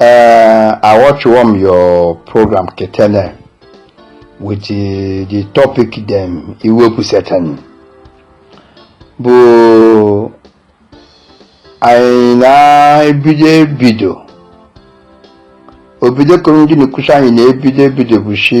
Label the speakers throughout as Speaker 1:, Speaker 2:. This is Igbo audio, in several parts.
Speaker 1: Uh, I watch one your program ke tani with the, the topic them i wepụsa tani. But anyị na ebido ebido obido kụrụ ndị na-ekwusa anyị na ebido ebido bụ shi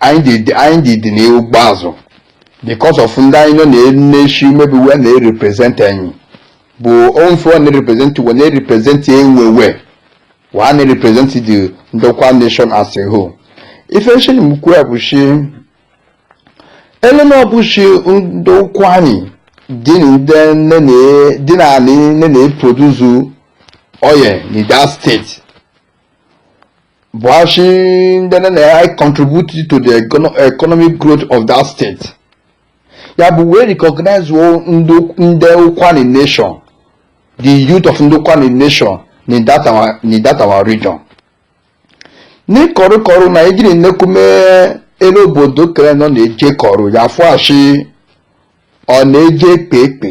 Speaker 1: anyị dị dị n'ihu gbazụ because of ndị anyị nọ na-eshi maybe we na-erepresent anyị but onfe ọ na-erepresent we na-erepresent enwewe wa na-erepresent the ndokwa nation as a whole ife nshini m kwu ya bụ shi ele na ọ bụ shi ndokwa anyị dị na ndị nne na- dị na anị nne na-eproduce oil na that state Buhashi ndị na-econtribute to the economic growth of that state ya but we recognize ndị ụkwani nation the youth of ndị ụkwani nation in that our in that our region n'ịkọrụkọrụ na ejiri nnekume elu obodo kere nọ na-eje kọrụ ya fụashi ọ na-eje ekpe ekpe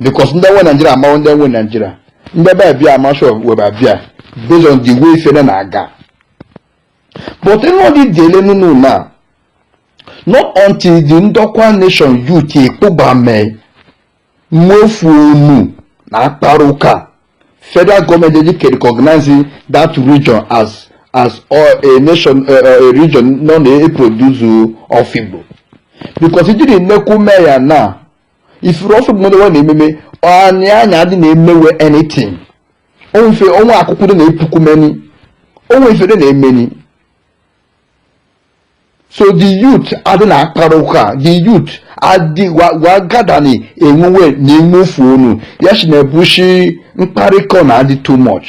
Speaker 1: because ndị nwe naijiria amawo ndị nwe naijiria ndị be abịa a ma shi we be abịa based on the way ife nọ na-aga but ịnọdụ dị ele n'ụlọ na not until the ndokwa nation youth ekpogbame nwe ofu onu na akpara ụka federal government ji ke recognize that region as as a nation a region nọ na-eproduce ofigbo because ijiri nnekwu mee ya na ifuru ọsọ bụ mmadụ na ememe onye anyị adị na-eme we anything onwe ife onwe akụkụ dị na-epuku meni onwe ife dị na-emeni so the youth adị na-akpara ụka the youth adị wagadani enwewe na enwe ofu onu ya shi na-ebushi mkparịkọ na adị too much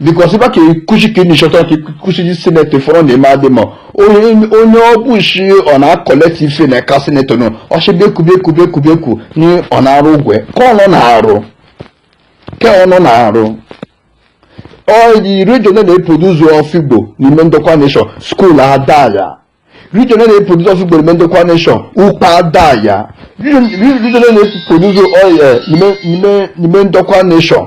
Speaker 1: because ife ka ekuchi ka ịnishọta ka ikuchiji sinetọ ifọrọ na eme adị ma onye onye ọ bụ shi ọ na-acollect ife na eka sinetọ nọ ọchịbịa ekubie ekubie ekubie ekwu na ọ na-arụ ụgwọ ka ọ nọ na-arụ ka ọ nọ na-arụ oil region na-eproduce ofigbo n'ime ndokwa nation school adị ya region na-eproduce ofigbo n'ime ndokwa nation ukpe adị ya region na-eproduce oil n'ime n'ime n'ime ndokwa nation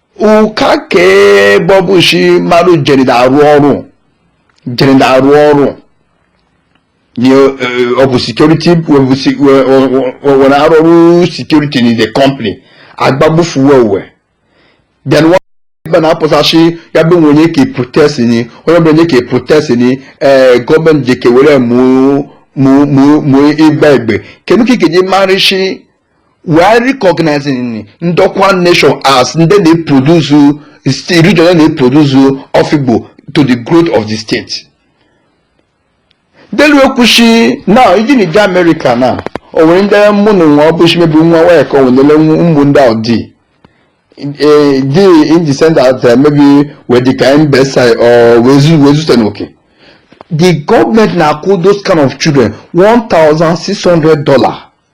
Speaker 1: ụka ka ebe ọ bụ shi mmadụ jeni da arụ ọrụ jeni da arụ ọrụ nye ọ bụ security we na-arụ ọrụ security in the company agbagbufu we we then wa ebe na-apụsa shi ya bụ onye ka protest ni onye bụ onye ka protest ni ee gọọmenti ji ke were mụ mụ mụ mụ ịgba egbe kenu ka ị ga-eji marị shi we are recognizing ndokwa nation as ndị na-eproduce region na-eproduce ofigbo to the growth of the state delu ekwushi ni i jini je amerịka now o nwere ndị mụ na nwa ọbụshi maybe nwa nwanyị ka o nwere ụmụ ndị ahụ di eh, di in the sense that eh, maybe we the kind best side or we zu we zu tenoke the government na-akwụ those kind of children one thousand six hundred dollar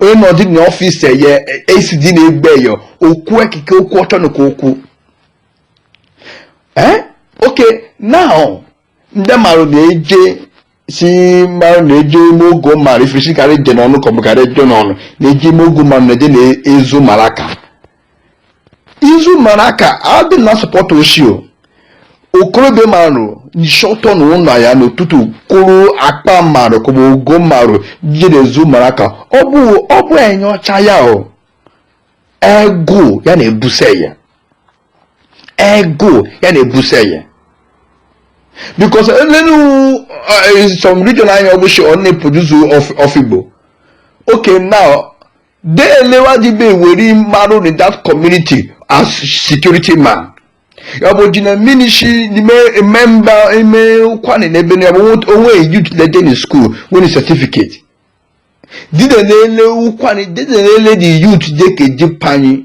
Speaker 1: onye nọdị na ọfịs eye AC dị na-egbe ya okwu ekike okwu ọtọ nụ ke okwu ee eh? okay now ndị marụ na-eje si marụ na-eje ime ogo marụ ifesi karị je n'ọnụ ka ọ bụ karị je n'ọnụ na-eje ime ogo marụ na-eje na-ezu maraka izu maraka adị na-support oshi o okorobịa marụ nishi ọtọ na ụlọ ya n'ụtụtụ kwụrụ akpa marụ ka ọ bụ ogo marụ je na-ezu maraka ọ bụ ọ bụ enya ọcha ya o egụ ya na-ebuse ya egụ ya na-ebuse ya because elenu uh, some region anyị ọbụshi ọ na-eproduce ofigbo okay now dene wa ji be were marụ in that community as security man. ọ bụ ji na minishi n'ime mba ime ụkwanị n'ebe na o nwe youth le jeni school nwere certificate dide na-ele ụkwanị dide na-ele the youth deke youth anyị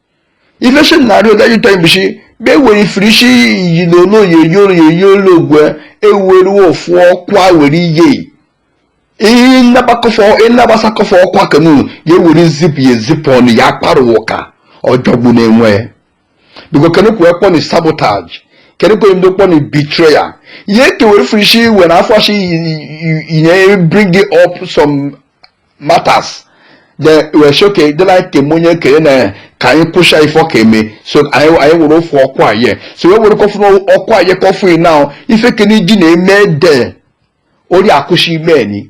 Speaker 1: ife shi na-arịọ nda youth anyị bụshi be were firishi iyi na olu oyi eyi olu eyi olu ogwe eweruo ofu ọkwa were iye ịnabasakọfọ ọkwa kanu ya ewere zipụ ya ezipụ ọnụ ya akpara ụka ọ jọgbuna enwe because kenu kwe kpọ ni sabotage kenu kwe ndo kpọ ni betrayal ihe ekewere firishi were afọ ashi inye bring up some matters then we shi okay dị like ka eme onye kene na ka anyị kwụsha ife ọ ka eme so anyị anyị were ofu okwu aye so we were ka ofu okwu aye kọfụ yi now ife kene ji na-eme de ori akụshi ime ni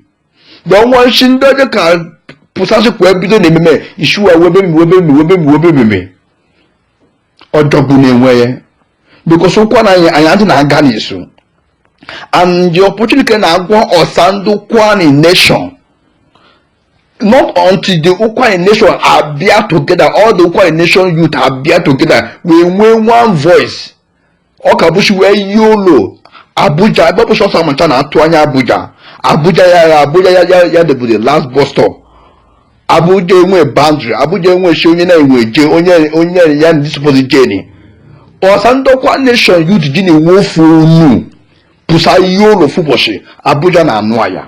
Speaker 1: then wa shi ndị ọjọọ ka pụsashị kwa ebido na ememe isu wa webe mi webe mi webe mi webe mi mi ọ jọgbuna enwe ya because ụkwani anyị adị na-aga n'isu and the opportunity na-agwa ọsa ndị ụkwani nation not until the ụkwani nation abịa together all the ụkwani nation youth abịa together we nwee one voice ọ ka bụshi wee yie olu abuja ebe bụshi ọsa amacha na-atụ anya abuja abuja ya ya abuja ya ya ya debụrụ the last bus stop abuja enwe boundary abuja enwe shi onye na-enwe je onye onye ya na-esupposi jeni ọsa ndọkwa nation youth ji na-enwe ofu ọnụ pụsa yie olu ofu ụbọshị abuja na-anụ ya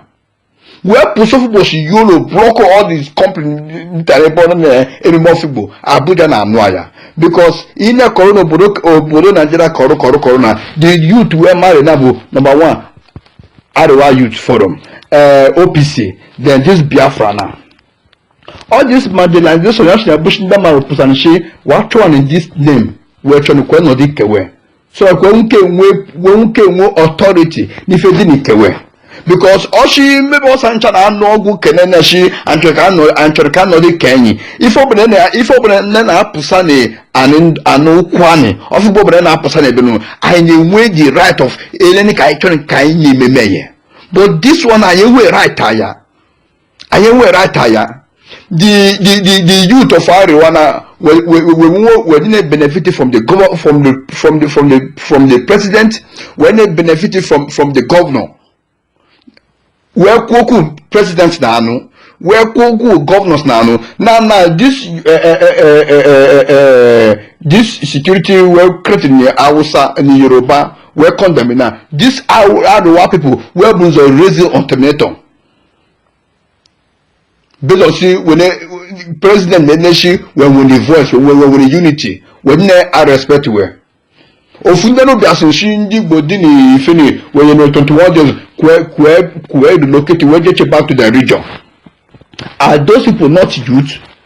Speaker 1: wee pụsa ofu ụbọchị yolo block all these company ntara ebe ọ na emume ọfigbo abuja na-anụ ya because ị na-ekọrọ n'obodo obodo naijiria kọrọ kọrọ kọrọ na the youth wee marịnị bụ number one arewa youth forum eh, opc then this biafra na all this marginalization ya si na bush ndị mmadụ pụsanchi wachụan in this name wee chọrọ kwe nọdụ ike we so that we nwoke nwe wee nwoke nwe authority n'ife dị n'ike we because ọchị mmebe ọsa ncha na-anụ ọgụ kene na chi anyị chọrọ ka anọdị ike anyị ife ọbụla na ife ọbụla nne na-apụsa na anị- anị ụkwụanị ọfịgbo ọbụla na-apụsa na ebenu anyị na-enwe the right of eleni ka anyị chọrọ ka anyị na-ememe ya but this one anyị enwe right aya anyị enwe right aya the the the the youth of Arewa now we we we we we didn't benefit from the governor from the from the from the from the president we didn't benefit from from the governor wee kwuo okwu president na anụ wee kwuo okwu governors na anụ na na this uh, uh, uh, uh, uh, this security wee created na Hausa na Yoruba wee condemn na this Arewa people wee bu nzọ raising ultimatum because when president na-ene shi wee nwere voice wee wee nwere unity wee nne a respect wee ofu ndị nọ bịa sị shi ndị igbo dị n'ifeni wee nye twenty one days kwee kwee kwee relocate wee jeche back to the region are those people not youth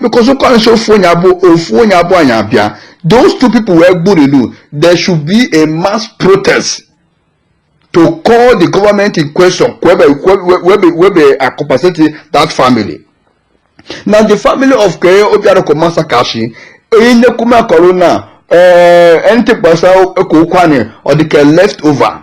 Speaker 1: because ụka na-esi ofu onye abụọ ofu onye abụọ anyị abịa those two people we gburinụ there should be a mass protest to call the government in question webe webe webe compensate that family na the family of kee obiaruku massacre shi onye nnekwume akọrọ na anything gbasa ka ụkwụanị ọ dị ka left over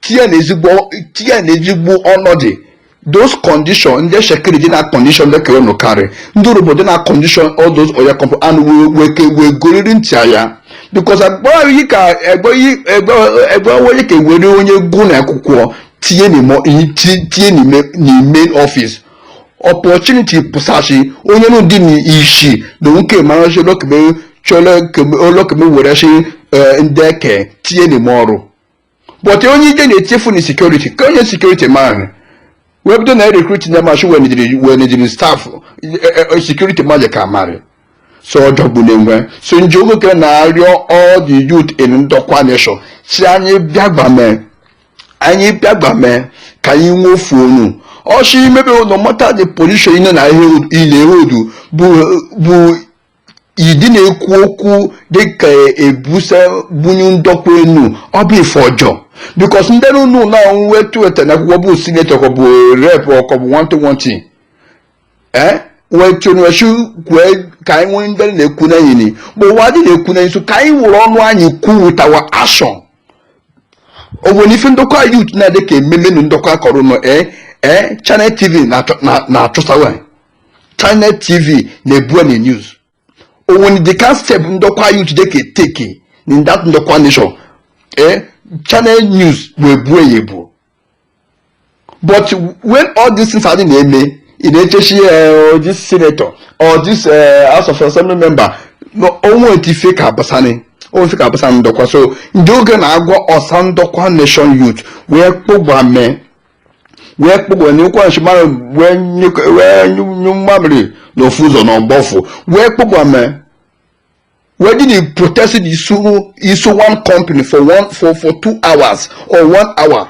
Speaker 1: tinye na ezigbo tinye na ezigbo ọnọdụ those condition ndị shekiri dị na condition dị ka unu karị ndị urhobo dị na condition all those oil company wee wee ke wee goriri ntị ya because agbara yi ka egbe yi egbe egbe onye ka were onye gụ na akwụkwọ tinye n'ime ti- tinye n'ime n'ime office opportunity pụsa shi onye nụ dị n'isi na nwoke mara shi olokeme chọrọ olokeme were shi eh, ndị eke tinye n'ime ọrụ but onye ike na-echefu na security ka onye security man wee bido na recruit na machi we nwedịrị staff security maji ka marị so ọjọgbu na-enwe so njogoke na-arịọ all the youth in ndokwa nation si anyị bịa gbamee anyị bịa gbamee ka anyị nwee ofu ọnụ ọchị imebe no matter the position ị nọ na ihe ị na-e hold bụ bụ idi na-ekwu okwu dịka ebusa bunyu Ndokwa enu ọ bụ ife ọjọọ because ndị na ụlọ ụlọ ọrụ wee tụweta na akwụkwọ bụ senator ka ọ bụ rep ọ ka bụ one thing one thing ee wee chụnwechi kwue ka anyị nwee ndị na-ekwu na enyi bụ ụwa dị na-ekwu na nso ka anyị wụrụ ọnụ anyị kwu with our action o nwere ife Ndokwa youth na-adị ka ememe na Ndokwa akọrọ nọ ee ee Channel TV na-achọsawa Channel TV na-ebu na news o nwere the kind step Ndokwa youth dị ka e take in that Ndokwa nation eh Channel News wee buo ya ebuo but when all these things adị na-eme ị na-eche shi eh, oh, this senator or this eh, House of Assembly member o nwe otu ife ka abasani ife ka abasani Ndokwa so ndị oge na-agwa ọsa Ndokwa nation youth wee kpọgba mee wee kpụgwe na ụkwụ nshi mara wee nyụk- wee nyụ nyụ mmamịrị n'ofu ụzọ na ọ gbọ ụfụ wee kpọgba mee wee dị na protest dị isu isu one company for one for for two hours or one hour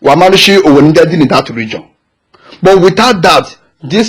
Speaker 1: wa marị shi o nwe ndị dị na that region but without that this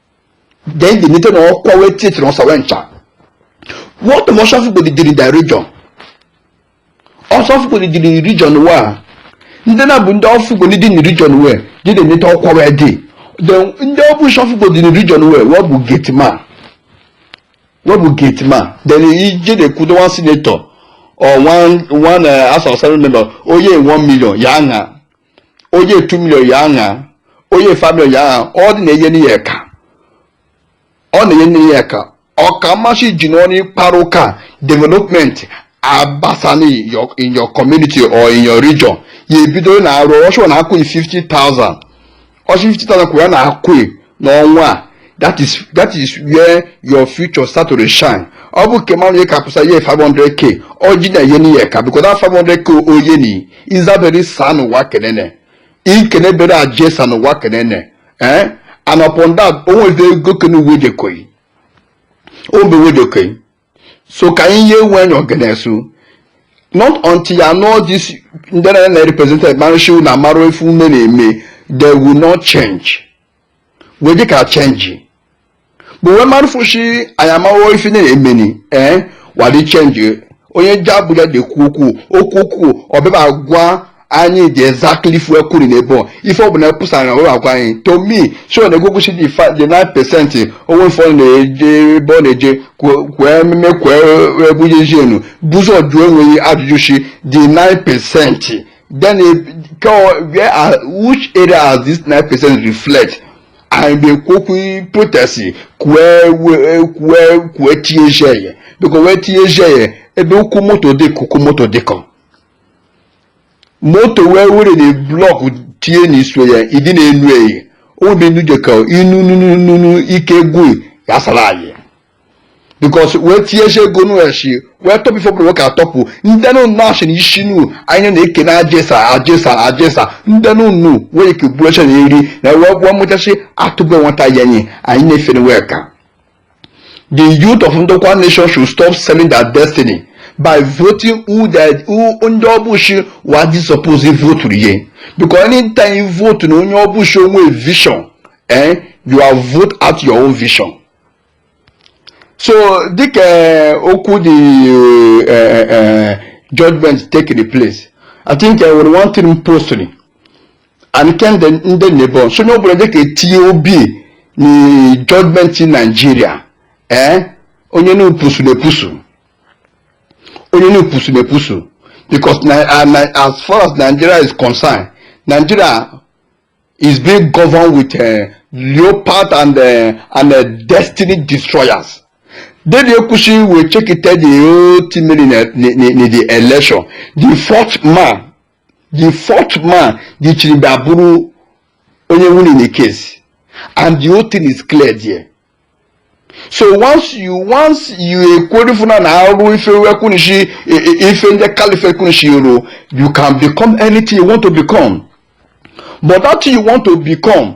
Speaker 1: then the nite na ọkwa wee titiri ọsa wee ncha what of ọsọ ofigbo dị diri the region ọsọ ofigbo dị diri region wa ndị na bụ ndị ofigbo dị dị region wee dị dị nite ọkwa wee dị then ndị ọ bụ shi ofigbo dị region wee wee bụ gate man wee bụ gate man then ije na-ekwudo one senator or one one uh, house of assembly member o ye one million ya aṅa o ye two million ya aṅa o ye five million ya aṅa ọ dị na-eyeni ị eka ọ na-eyeni ị eka ọ ka mma shi ji n'ọnụ ịkpara ụka development abasani in your community or in your region ya ebido na-arụ ọ shi na-akwụ ị 50,000 ọ shi 50,000 ka wa na-akwụ n'ọnwa a that is that is where your future start to shine ọ bụ nke mmadụ ka pụsa ye 500k ọ dị na-eyeni ị eka because that 500k o yeni izabere saa n'ụwa kenene ikene bere aje saa n'ụwa kenene ee eh? and upon that o nwe ebe ego kene wee jekoyi o nwe ebe wee jekoyi so ka anyị ye enwe any ọganisu not until you know this ndị na na represent marị shi na amarụ ife wee na-eme they will not change wee dịka change but wee marụfụ shi anyị amawo ife na-emeni ee eh, wa dị change onye ji abụja na-ekwu okwu okwu okwu ọbịba gwa anyị the exactly ife ekwuru na ebe ọ ife ọbụla epụsara na ụlọ agwa anyị to me so na egwegwusi dị fa the 9 percent onwe mfe ọ na-eje ebe ọ na-eje kwe- kwee ememe kwee ebujezienu bụzọ jụ enwe ị ajụjụ shi the 9 percent then e- ke ọ- where are which area has this 9 percent reflect anyị na-ekwu okwu protest kwee we- kwee kwee tijie ya because wee tijie ya ebe ụkwụ moto dị ka ụkwụ moto dịkọ moto wee were na blọkụ tie na iso ya ịdị na-enu eyi obi nuje ka inu nunu ike gwụ ya sara anyị because wee tinye ego go no eshi wee tọpụ ife ọbụla ka atọpụ ndị nụ nashi na isi nu anyị na-eke na ajesa ajesa ajesa ndị nụ nu wee ike bụrụ na eri na wee gwọ mụchachi atụbe nwata ya anyị na-efere wee ka The youth of Ndokwa Nation should stop selling their destiny by voting who they who onye ọbụchi wa dị suppose vote ye because anytime you vote na onye ọbụchi onwe vision eh, you are vote out your own vision so dịka eh, okwu the uh, uh, judgment taking place i think uh, one thing postly and ke ndị nebon so onye ọbụla dịka etinye obi na judgment nigeria ee eh? onye na-epusu na-epusu onye na-epusu na-epusu because as far as nigeria is concerned nigeria is being governed with uh, leopard and uh, and uh, destiny destroyers dede ekwu shi we check it the whole thing in the election. The fourth man the fourth man the chiribe abụrụ onye winni na case and the whole thing is clear there so once you once you ekwurifuna na arụ ife wekwunishi ife ndị caliphate kwunishi ru you can become anything you want to become but that thing you want to become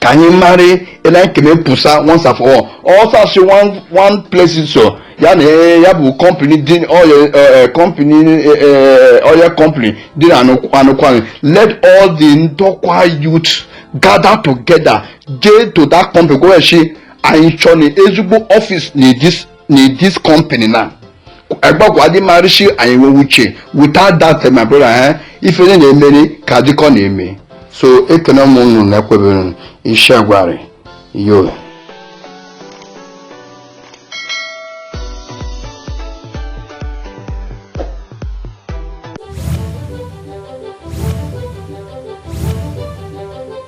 Speaker 1: ka anyị mara ele anyị kene pụsa once and for all ọsọ asị one one place so ya na eh, ya bụ company dị oil eh, eh, company eh, eh, oil company dị na Anu- anụkwanụ let all the ndokwa youth gather together jee to that company go and shi anyị chọrọ ezigbo office na this na this company na agbagwa dị marishi anyị nwewe uche without that eh, my brother eh, ife onye na-emeri ka adịkọ na-eme so ekene m unu na ekwebere m ishagwarị yo